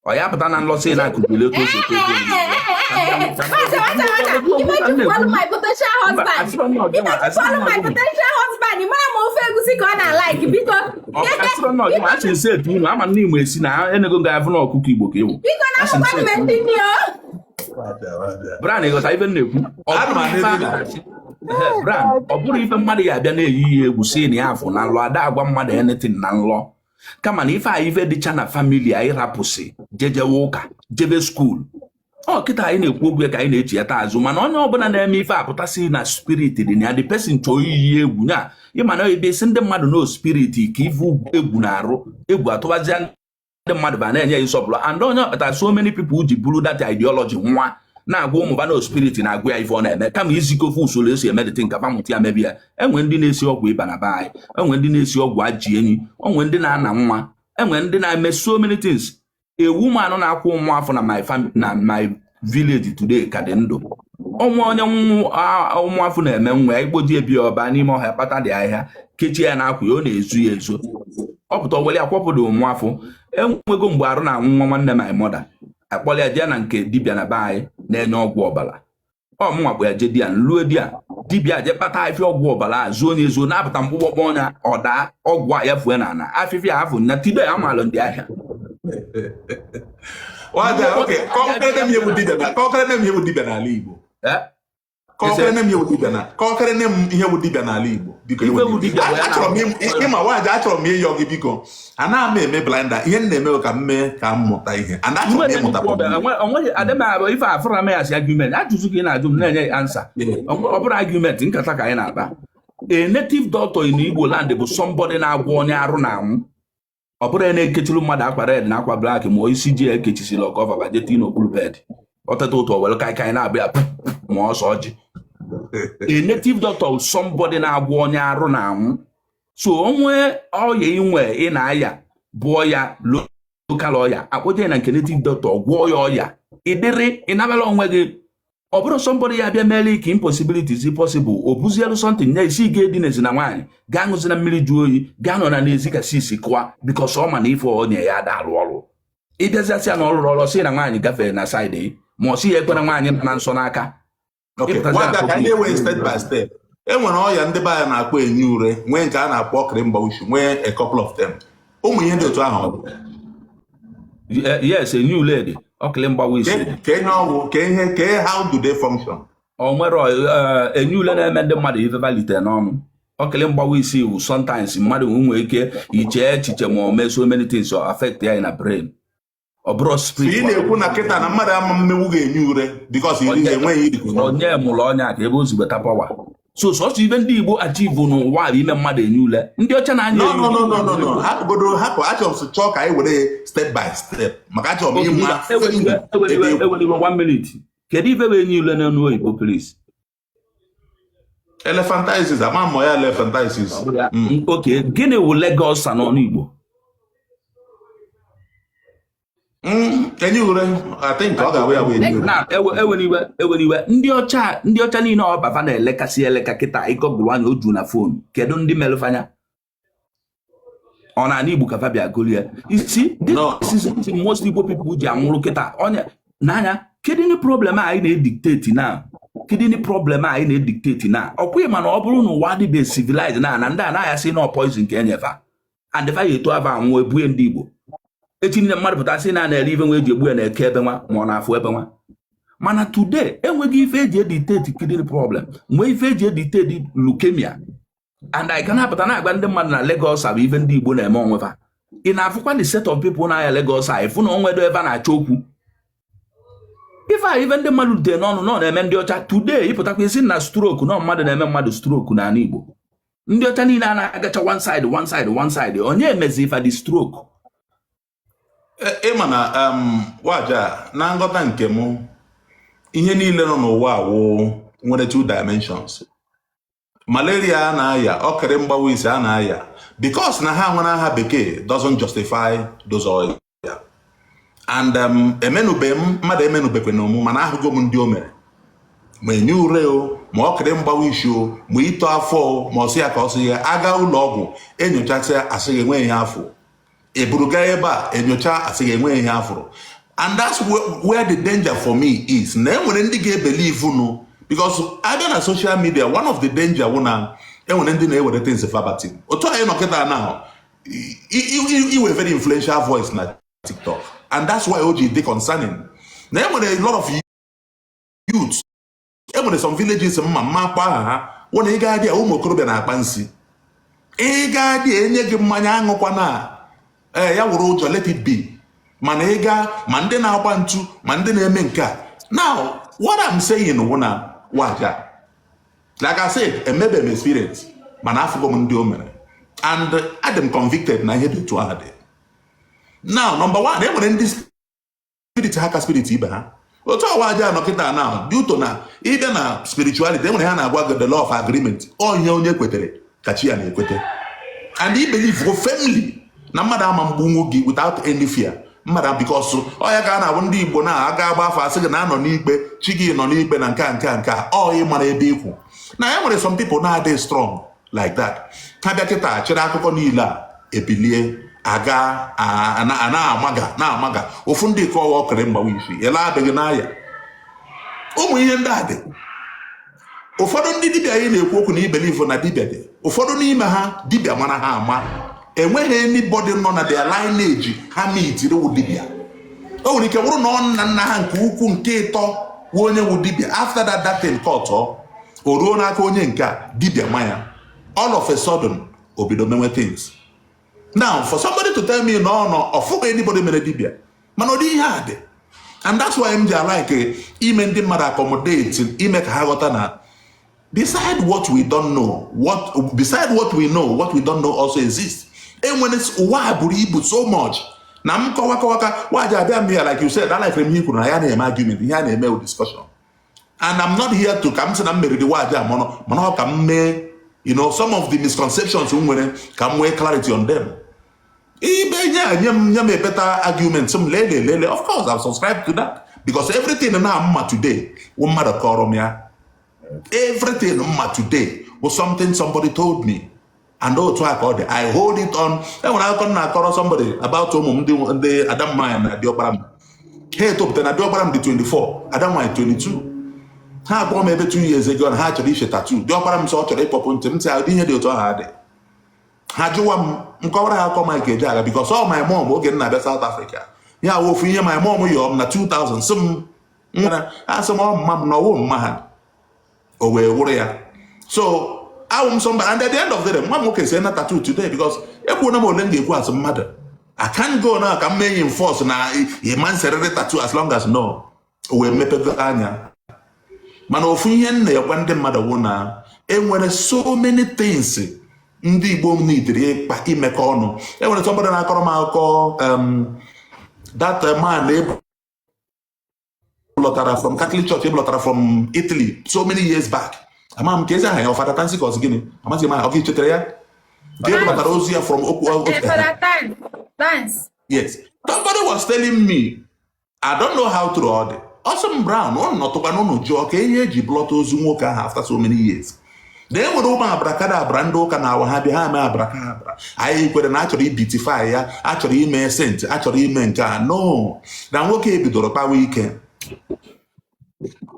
S4: ọ ya pụta na nlọ sị na akụzili ya etu o si ekwe ego asị nse etu unu ama ndị igbo esi na enego ga-avụ na ọkụkọ igbo ka ewu bran ịghọta ife m na-ekwu bran ọ bụrọ ife mmadụ ya abịa na-eyi ya egwu sị na ya afụ na nlọ a da-agwa mmadụ anything na nlọ kama na ife a ife dịcha na family anyị rapụsị jejewe ụka jebe school ọ kịta anyị na-ekwu okwu ya ka anyị na-echighata azụ mana onye ọbụla na-eme ife apụta sị na spirit dị na ya the person chọọ iyi egwu nya ị ma na ebe ị sị ndị mmadụ na spirit ka ivu egwu na-arụ egwu atụbazia ndị mmadụ va na-enye ya nsọpụrụ and ọ nya kpata so many people ji buru that ideology nwa na-agwa ụmụ va na spirit na-agwa ya ife ọ na-eme kama izikọ fa usoro e si eme the thing ka va mụta ya mebe ya enwe ndị na-esi ọgwụ ịba na be anyị enwe ndị na-esi ọgwụ ajị enyi e nwe ndị na-ana nwa enwe ndị na-eme so many things a woman na-akwụ nwa afọ na my village today ka dị ndụ ọnwa onye ụmụafọ na-eme nwa ya ikpoji ebi ọ baa n'ime ọhịa kpata dị ahịa kechie ya n'akwa ya ọ na-ezo ya ezo ọ pụta o were ya kwọpụdụ ụmụafọ enwego mgbe arụ na-anwụ nwa nwanne my mother a kpọrọ ya jee na nke dibịa na be anyị na-enye ọgwụ ọbara ọ mụnwa bụ ya je di ya nlue di ya dibịa je kpata afịfịa ọgwụ ọbara a zuo onye zuo na-apụta mkpụkpọkpọ ọnya ọdaa ọgwụ a ya fue na ana afịfịa afụ na tibe ya maalụ ndị ahịa
S2: n'ala Igbo kọkere nne m ihe wụ dibịa na kọkere nne m ihe wụ dibịa n'ala Igbo biko achọrọ m ịma nwaanyị achọrọ m ịyọ gị biko anaghị m eme blunder ihe m na-eme ka m mee ka m mụta ihe and
S4: achọrọ m ịmụta ife afụrọ m ya as argument ajụjụ ka ị na-ajụ m na-enye ya ansa ọ bụrọ argument nkata ka anyị na-akpa a native doctor in Igbo land bụ somebody na-agwọ onye arụ na-anwụ ọ bụrọ ya na-ekechiri mmadụ akwa red na akwa black ma isi ji ya ekechisiri ọka ọvava jeti n'okpuru bed ọ teta ụtụtụ were kaikai na-abịa ma ose ọjị a native doctor somebody na-agwọ onye arụ na-anwụ so o nwe ọya inwe ị na-aya bụ ọya local ọ ya akpọje na nke native doctor gwọọ ya ọya ịdịrị ịnabala onwe gị ọ bụrọ somebody ya abịa mee like impossibilities possible o buzielu something ya asị gị edinezina nwaanyị gị aṅụzina mmiri jụọ oyi gị anọna n'ezi ka sisi kụwa because ọ ma na ife o nye ya ada arụ ọrụ ị bịazia sị ya na ọ rụrọ ọrụ sị na nwaanyị gafere na side ma ọ sị ya ekwena nwaanyị nọ na nsọ
S2: n'aka e nwere ọya ndị be anyị na-akpọ enyi ure nwee nke a na-akpọ ọkịrị mgbawa isi nwee a couple of them ụmụ ihe dị otu
S4: ahụ yes enyi ule dị ọkịlị mgbawa isi ka ihe ọ wụ ka
S2: ihe ka ihe how do they function o nwere eh,
S4: enyi ule na-eme ndị mmadụ ife valite n'ọnụ ọkịlị mgbawa isi wụ sometimes mmadụ nwee ike iche echiche ma o mee so many things affect ya na brain ọ bụrọ spirit ị na-ekwu na kịta
S2: na mmadụ ama emenwu gị enyi ure because iri enweghị irikọ onye mụrụ ọnya ka
S4: ebe o si weta power so sọsọ ife ndị Igbo achieve n'ụwa bụ ime mmadụ enyi ule ndị ọcha na-anya no no no no
S2: no hapụgodo hapụ achọrọ m chọọ ka anyị were step by step maka achọrọ m ịma ewela
S4: iwe one minute kedu ife bụ enyi ule n'ọnụ oyibo please
S2: elephantiasis ama mụ ya elephantiasis mm.
S4: okay gịnị wụ leg ulcer n'ọnụ Igbo Mm,
S2: enyi ure I think ọ ga-abụ ya bụ enyi ure ewela
S4: iwe ewela iwe ndị ọcha ndị ọcha niile ọkpa fa na-elekasị eleka kịta ị google nya o ju na phone kedu ndị merụ fa nya ọ n'ana Igbo ka fa bịa golie isi disease that most Igbo people ji anwụrụ kịta onye na-aya kidney problem anyị na-edikteti na kidney problem anyị na-edikteti na ọkwa ịma na ọ bụrụ na ụwa adịbe civilized na na ndị a na-aya sị na poison nke e nye fa and fa ya eto avọ anwụọ ebue ndị Igbo echi niile mmadụ pụta sị na na-ere ife nwa eji egbu ya na-eke ebe nwa ma ọ na-afụ ebe nwa mana today enwego ife eji editeti kidney problem nwee ife eji editeti leukemia and ị ka na-apụta na-agwa ndị mmadụ na leg ulcer bụ ife ndị Igbo na-eme onwe fa ị na-afụkwa the set of people na-aya leg ulcer ị fụ na o nwedụ ebe a na-achọ okwu ife a ife ndị mmadụ dee n'ọnụ nọ na-eme ndị ọcha today ị pụtakwa ị sị na stroke na ọ mmadụ na-eme mmadụ stroke n'ana Igbo ndị ọcha niile a na-agacha one side one side one side onye emezi fa the stroke
S2: e, ịma na um, waja na nghọta nke m ihe niile nọ n'ụwa awụ nwere two dimensions malaria a na-aya okiri mgbawa isi a na-aya because na ha nwere aha bekee doesn't justify those ọya and um, emenube m mmadụ emenubekwenụ mụ mana ahụgo m ndị o mere ma enyi ure o ma okiri mgbawa isi o ma ito afọ o ma ọ sị ya ka ọ sị ya aga ụlọ ọgwụ enyochasịa asị gị enweghị ihe afụrụ eburu gaa ebe a enyocha asị gị enweghị ihe afụrụ and that's where the danger for me is na enwere ndị ga-ebelivu unu because abịa na social media one of the danger wụ na enwere ndị na-ewere things verbatim otu anyị nọ kịta now i nwe very influential voice na TikTok and that's why o ji dị concerning na enwere a lot of youths e nwere some villages m ma m ma akpọ aha ha wụ na ị gaa dị ụmụ okorobịa na-akpa nsi ị gaa dị enye gị mmanya aṅụkwana ee ya wụrụ ụjọ let it be mana ị gaa ma ndị na-agba ntu ma ndị na-eme nke a now what I'm saying wụ na waja like I said emebe m experience mana afụgo m ndị o mere and adị m convicted na ihe dị otu ahụ dị now number one e nwere ndị spirit ha ka spirit ibe ha otu waja nọ kịta now due to na ịbịa na spirituality enwere ihe a na-agwa gị the law of agreement ihe onye kwetere ka chi ya na-ekwete and i believego firmly na mmadụ ama egbunwu gị without any fear mmadụ because ọ ya ka a na-abụ ndị igbo na aga agba afa asị gị na anọ n'ikpe chi gị nọ n'ikpe na nke a nke a nke a ọ ị mara ebe ikwu na ya nwere some people na-adị strong like that ha bịa kịta chịrị akụkọ niile a ebilie aga na-amaga na-amaga ofu ndị ka ọ wụ okiri mgbawa isi ele adịghị na ya ụmụ ihe ndị a dị ụfọdụ ndị dibịa anyị na-ekwu okwu na i belivu na dibịa dị ụfọdụ n'ime ha dibịa mara ha ama enweghị anybody nọ na their lineage ha mitiri wụ dibịa o nwere ike wụrụ na ọ nna nna ha nke ukwu nke ịtọ wụ onye wụ dibịa after that that thing cut off o ruo n'aka onye nke a dibia ma ya all of a sudden o bido mewe things now for somebody to tell me na ọ fụghị anybody mere dibia mana ụdị ihe a dị and that's why m ji alike ime ndị mmadụ accommodate ime ka ha ghọta na beside what we don't know what beside what we know what we don't know also exists enwere ụwa buru ibu so much na m kọwa kọwa ka waji abịa m ya like you said alike m ihe i kwuru na ya na-eme argument ihe a na-eme discussion and I'm not here to ka m sị na m meriri waji a mọnụ mana ọ ka m mee you know some of the misconceptions m nwere ka m nwee clarity on them ibe nye a nye m nye m a better argument m lele lele of course I've subscribed to that because everything na m ma today wụ mmadụ kọrọ m ya everything m ma today was something somebody told me and otu a ka ọ dị i hold it on enwere akụkọ m na-akọrọ somebody about ụmụ m ndị ada m nwanyị na diọkpara m ha etopụtana diọkpara m dị 24 ada m nwanyị 22 ha agwa m maybe 2 years ago na ha chọrọ ise tattoo diọkpara m sị ọ chọrọ ịkpọpụ ntị m sị ụdị ihe dị otu ahụ adị ha jụwa m m kọwara ha akụkọ Mike Ejeagha because ọ my mom oge m na-abịa South Africa ya wụ ofu ihe my mom yọọ m na 2000 sị m nwere asị m ọ mma m na ọ wụ mma ha o wee wụrụ ya so awụ m sị mba and at the end of the day nwa m nwoke sena tattoo today because ekwuona m ole m ga-ekwu as mmadụ I can't go na ka m mee enforce na ịma nserịrị tattoo as long as na o wee mepego anya mana ofu ihe m na-egwa ndị mmadụ wụ na enwere so many things ndị Igbo m needịrị ịkpa imekọ ọnụ enwere somebody na-akọrọ m akụkọ um, that man e bu lọtara from Catholic Church e bulọtara from Italy so many years back ama m ka ezi aha ya ọ Fada Tansi ka ọ zi gịnị amaghị m aha ọ gị chetara ya nke e bulọtara ozu ya from okay yes somebody was telling me I don't know how true ọ dị ọ sị m bro unu nọtụkwa unu jụọ ka ihe e ji bulọta ozu nwoke ahụ after so many years na e nwere ụmụ abrakadabra ndị ụka na-awa ha bịa ha mee abrakadabra anyị kwere na achọrọ ibeatify ya achọrọ ime saint achọrọ ime nke a no na nwoke a bidoro kpawa ike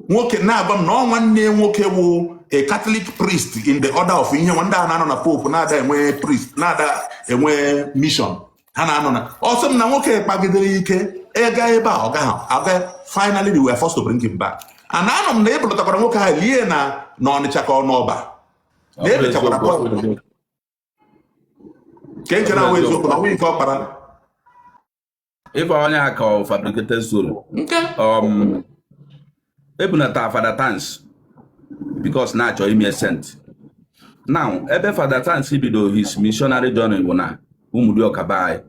S2: nwoke na-agwa m na ọ nwanne nwoke wụ a Catholic priest in the order of ihe nwa ndị a na-anọ na pope na-ada enwe priest na-ada enwe mission ha na-anọ na ọ sị m na nwoke kpagidere ike ịga ebe a ọ gaghị aga finally they were forced to bring him back and anụ m na e bulọtakwara nwoke ahụ lie na na Ọnịcha ka ọ n'ọba na ebechakwara nke nke na-awụ eziokwu na nwunye ike ọ
S4: kpara ịba onye a ka ọ fabricated story nke um, e bunata fada tansi because na-achọ ime saint now ebe fada tansi bido his missionary journey bụ na ụmụdịọka be anyị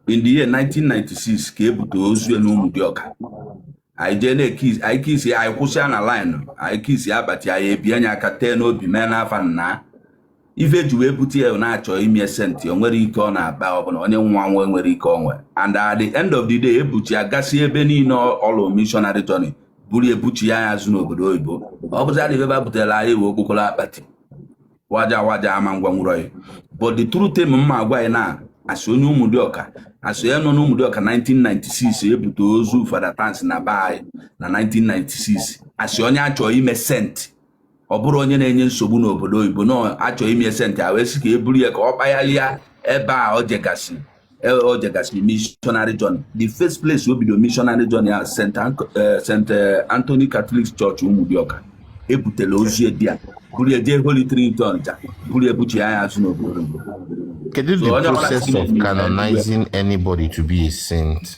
S4: in the year 1996 ka e bute ozu na ụmụdịọka anyị jee na-ekisi anyị kisi anyị kwụsịa na line anyị kisi akpati anyị ebie nya aka tee n'obi mee n'afa nna ife ji wee bute ya na-achọ ime saint o nwerọ ike ọ na-akpa ọbụla onye nwa nwe nwere ike o nwe and at the end of the day e buchie ya gasị ebe niile ọ lụ missionary journey buru ya buchie ya azụ n'obodo oyibo ọ bụzi adịghị ebe a butere anyị wee okpokoro akpati waja waja ama ngwa nwụrụ ya but the truth tem mma agwa anyị na as onye ụmụdịọka asị ya nọ n'ụmụdịọka 1996 e bute ozu fada tansi na be anyị na 1996 as onye a chọ ime saint ọ bụrọ onye na-enye nsogbu n'obodo oyibo na a chọ ime saint a wee sị ka e buru ya ka ọ kpagharịa ebe a o jegasị e, o jegasị missionary journey the first place o bido missionary journey at St. E, e, Anthony Catholic Church Ụmụdịọka e butela ozu there buru ya jee Holy Trinity Ọnịcha buru ya buchie ya azụ n'obodo Kedu
S5: the process of canonizing anybody to be a saint?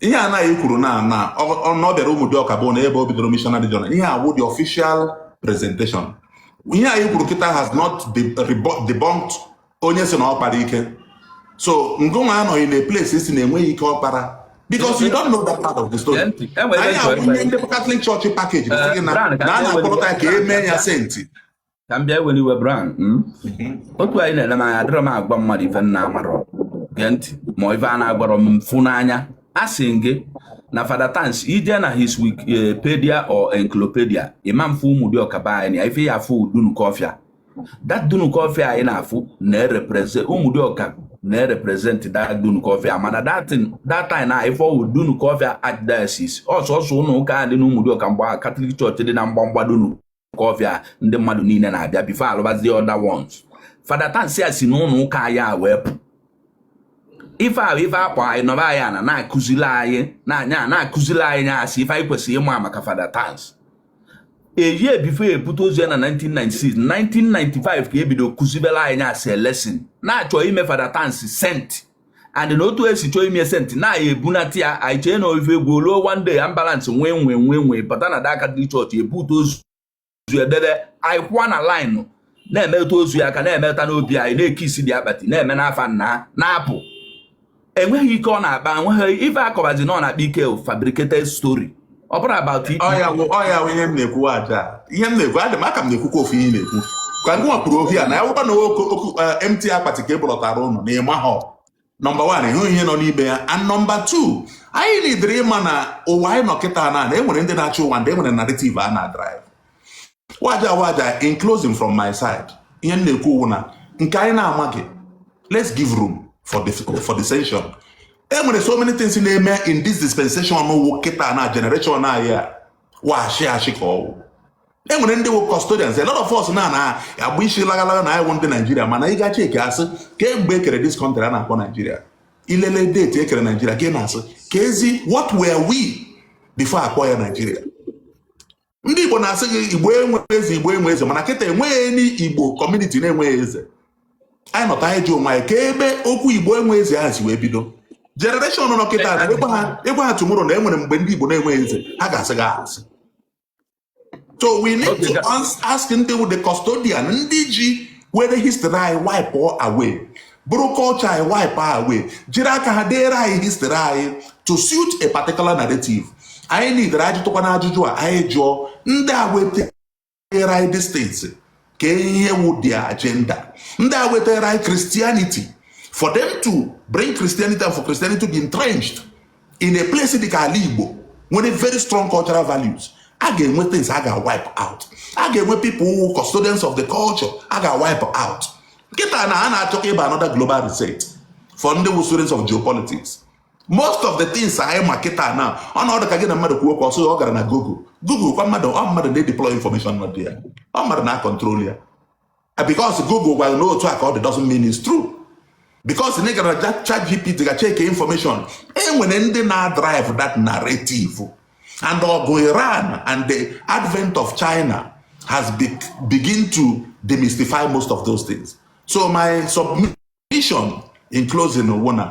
S2: ihe a nna anyị kwuru na na na ọ bịara Ụmụdịọka bụ na ebe o bidoro missionary journey ihe a wụ the official presentation ihe anyị kwuru kịta has not debunked onye si na ọ kpara ike so ngụnwa anọghị na place ịsị na enweghị ike ọ kpara because you don't know that part of the story. anyị abụghị ndị Catholic Church package na a na-akpọrọta ka e mee ya saint ka m
S4: bịa were iwe Brown hmm? otu a ị na-ele m anya adịrọ m agwa mmadụ ife m na-amarọ gee ntị ma ife a na-agwarọ m m fụ n'anya a sị gị na fada tansi i jee na his wikipedia or encyclopedia ị ma-afụ ụmụdịọka be anyị na ife ị ya-afụ dunukọfịa that dunukọfịa a ị na-afụ na-erepresent ụmụdịọka na-erepresent that dunukọfịa mana that time na ife ọ wụ dunukọfịa archdiocese ọ sọsọ ụlọ ụka dị n'ụmụdịọka mgba catholic church dị na mgbamgba dunu kọfịa ndị mmadụ niile na-abịa before a lụbazie other ones fada tansi a si n'ụlọ ụka anyị a wee pụ ife ahụ ife a gwa anyị na be anyị a na-akụzili anyị nya na-akụzili anyị nya as ife anyị kwesịrị ịma maka fada tansi even before e bute ozu ya na 1996 1995 ka e bido kụzibela anyị nya as a lesson na-achọ ime fada tansi saint and na otu e si chọọ ime saint na anyị ebunata ya anyị chee na ọ ife egwu o luo one day ambulance nwee nwee nwee nwee bata na the catholic church e bute ozu debe anyị kwụọ na line na-emetụ ozu ya aka na-emeta n'obi anyị na-ekisi the akpati na-eme n'afa nna na-apụ enweghị ike ọ na-akpa enweghị ife a kọbazi na ọ na-akpa ike fabricated story ọ bụrụ about it ọ ya wụ ọ ya wụ ihe
S2: m na-ekwu aja ihe m na-ekwu adị m ka m na-ekwukwa ofu ihe ị na-ekwu ka ngị nwa kwuru ohi a na ya wụkwa na oke oku empty akpati ka e bulọtara unu na ịma ha nọmba wan ịhụ ihe nọ n'ime ya and nọmba tu anyị nidiri ịma na ụwa anyị nọ kịta na na e nwere ndị na-achị ụwa ndị e nwere narrative a na-adrive waja waja in closing from my side ihe m na-ekwu wụ na nke anyị na-amaghị let's give room for the, for dissension e nwere so many things na-eme in this dispensation wụ kịta na generation anyị a washi achị ka ọ wụ e nwere ndị wụ custodians a lot of us na na agba isi lagalaga na anyị wụ ndị Naijiria mana ị ga check a sị kemgbe e kere this country a na-akpọ Naijiria i lelee deti e kere Naijiria ka ị na-asị ka ezi what were we before a kpọọ ya Naijiria ndị Igbo na-asị gị Igbo enweghị eze Igbo enwe eze mana kịta enweghị ndị Igbo kọmuniti na-enweghị eze anyị nọta anyị jụọ onwe anyị ka ebe okwu Igbo enwe eze ahụ si wee bido jenereshọn nọ kịta ị gwa ha tumoro na e nwere mgbe ndị Igbo na-enweghị eze ha ga-asị gị asị so we need to ask ndị wụ the custodian ndị ji were history anyị wipe away buru culture anyị wipe away jiri aka ha deere anyị history anyị to suit a particular narrative anyị nidiri ịjụtụkwanụ ajụjụ a anyị jụọ ndị a wetara anyị these things ka ihe wụ their agenda ndị a wetara anyị Christianity for them to bring Christianity and for Christianity to be entrenched in a place dị ka ala Igbo nwere very strong cultural values a ga-enwe things a ga-wipe out a ga-enwe people wụ custodians of the culture a ga-wipe out kịta na a na-achọ ịba another global reset for ndị wụ students of geopolitics most of the things anyị ma kịta na ọ na-adị ka gị na mmadụ kwuo okwu ọ sị ọ gara na google google kwa mmadụ ọ mmadụ na-edeploy information nọ there ọ mmadụ na-akọntrol ya because google gwara na otu a ka ọ dị doesn't mean it's true because na ị gara ja ChatGPT ga check information e nwere ndị na-adrive that narrative and ọ bụ iran and the advent of china has be begin to demystify most of those things so my submission mission in closing wụ na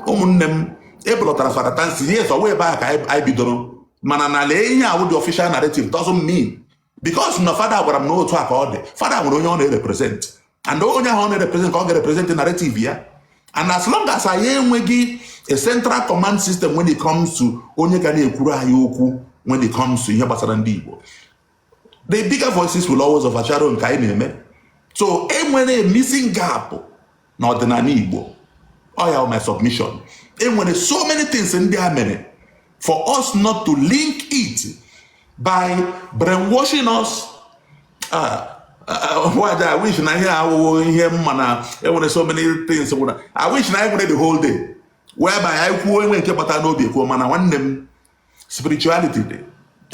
S2: ụmụnne m e bulọtara Fada Tansi yes ọ wụ ebe a ka anyị bidoro mana na lee ihe a wụ the official narrative doesn't mean because na fada gwara m na otu a ka ọ dị fada nwere onye ọ na-erepresent and onye ahụ ọ na-erepresent ka ọ ga-erepresent narrative ya and as long as anyị enweghị a central command system when it comes to onye ga na-ekwuru anyị okwu when it comes to ihe gbasara ndị Igbo the bigger voices will always overshadow nke anyị na-eme so e nwere missing gap n'ọdịnala Igbo ọ ya my submission e nwere so many things ndị a mere for us not to link it by brainwashing us uh, wada I wish na ihe awụwo ihe mma na e nwere so many things gwụna I wish na anyị nwere the whole day whereby anyị kwuo enwe nke kpata n'obi kwuo mana nwanne m spirituality dị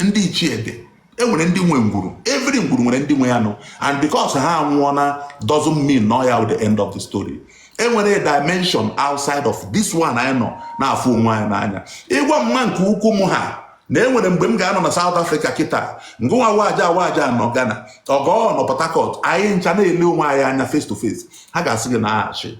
S2: ndị ichie dị enwere ndị nwe ngwuru every ngwuru nwere ndị nwe ya nụ and because ha anwụọna doesn't mean na ọ ya wụ the end of the story enwere a dimension outside of this one anyị nọ na-afụ onwe anyị n'anya ị gwa mma nke ukwu m ha na enwere mgbe m ga-anọ na South Africa kịta ngịnwa waja Awaja anọ Ghana Ọgọ anọ Port Harcourt anyị ncha na-ele onwe anyị anya face to face ha ga-asị gị na aghachi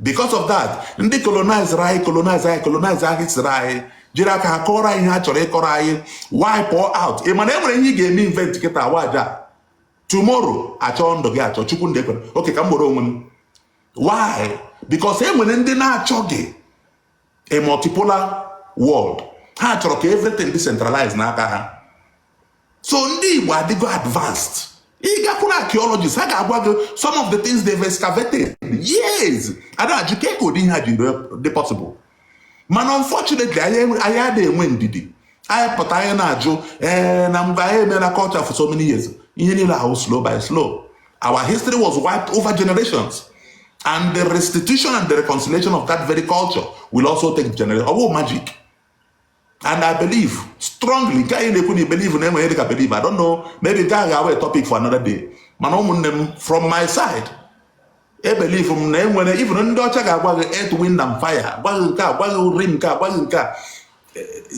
S2: because of that ndị colonizere anyị colonize anyị colonize history anyị jiri aka ha kọọrọ anyị ihe ha chọrọ ịkọrọ anyị wipe out ị ma na e nwere ihe ị ga-eme invent kịta waja tomorrow a chọọ ndụ gị achọ chukwu ndị ekwere okay ka m were onwe m why because e nwere ndị na-achọghị a multipolar world ha chọrọ ka everything dị centralized n'aka ha so ndị Igbo adịgo advanced ị gakwuru archaeologists ha ga-agwa gị some of the things they've excavated yes a da-ajụ kee ka ụdị ihe a ji dị possible mana unfortunately anyị adịghị enwe ndidi anyị pụta anyị na-ajụ ee eh, na mgbe anyị emela culture for so many years ihe niile a wụ slow by slow Our history was wiped over generations. And the restitution and the reconciliation of that very culture will also take generations. Oh, magic. And I believe strongly, nke anyị na-ekwu na believe na enweghị dịka believe, I don't know, maybe nke a ga-awụ topic for another day. Mana ụmụnne m from my side, e believe m na enwere even ndị ọcha ga-agwa gị earth, wind and fire, gwa gị nke a, gwa gị uri nke a, gwa gị nke a.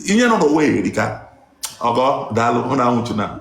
S2: Ihe nọ n'ụwa erika. Ọgọ, daalụ, ụnụ anwụchuna.